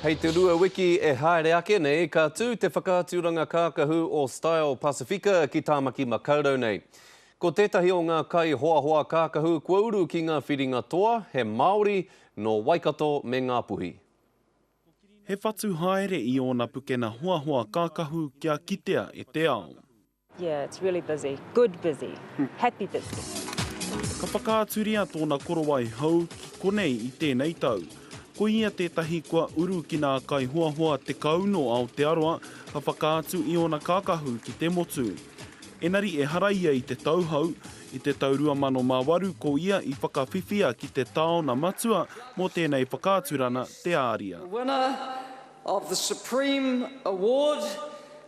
Hei te rua wiki e haere ake nei, ka tū te whakaaturanga kākahu o Style Pacifica ki Tāmaki Makaurau nei. Ko tētahi o ngā kai hoahoa kākahu kua uru ki ngā whiringa toa, he Māori, nō Waikato me Ngāpuhi. He whatu haere i ōna pukena hoahoa kākahu kia kitea e te ao. Yeah, it's really busy. Good busy. Happy busy. Ka whakaaturia tōna korowai hou ki konei i tēnei tau. Ko ia tētahi kua uru ki nā kaihoahoa tekau nō Aotearoa ka whakaatu i ōna kākahu ki te motu. Engari ehara ia i te tauhou, i te tau 2008 ko ia i whakawhiwhia ki te taona matua mō tēnei whakaaturana, te āria. The winner of the Supreme Award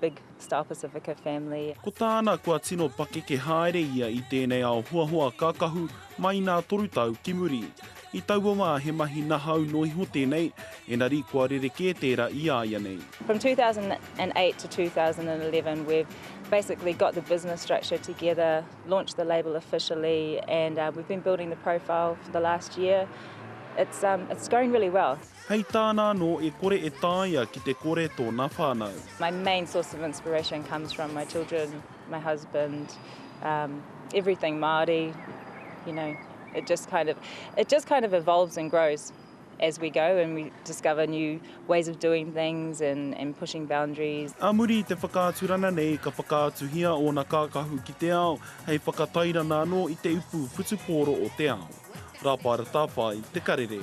Big Star Pacifica family. Ko tāna kua tino pakeke haere ia i tēnei ao hoahoa kākahu mai nā toru tau ki muri. I taua wā he mahi nahau noa iho tēnei, engari kua rerekē tērā i a ia nei. From 2008 to 2011 we've basically got the business structure together, launched the label officially and we've been building the profile for the last year. It's um it's going really well. Hei tāna anō e kore e taea ki te kore tōna whānau. My main source of inspiration comes from my children, my husband, um, everything Māori, you know, it just kind of, it just kind of evolves and grows as we go and we discover new ways of doing things and, and pushing boundaries. A muri i te whakaaturana nei ka whakaatuhia ōna kākahu ki te ao hei whakatairana anō i te upu whutupōro o te ao. Rāpara Tāwhai, Te Karere.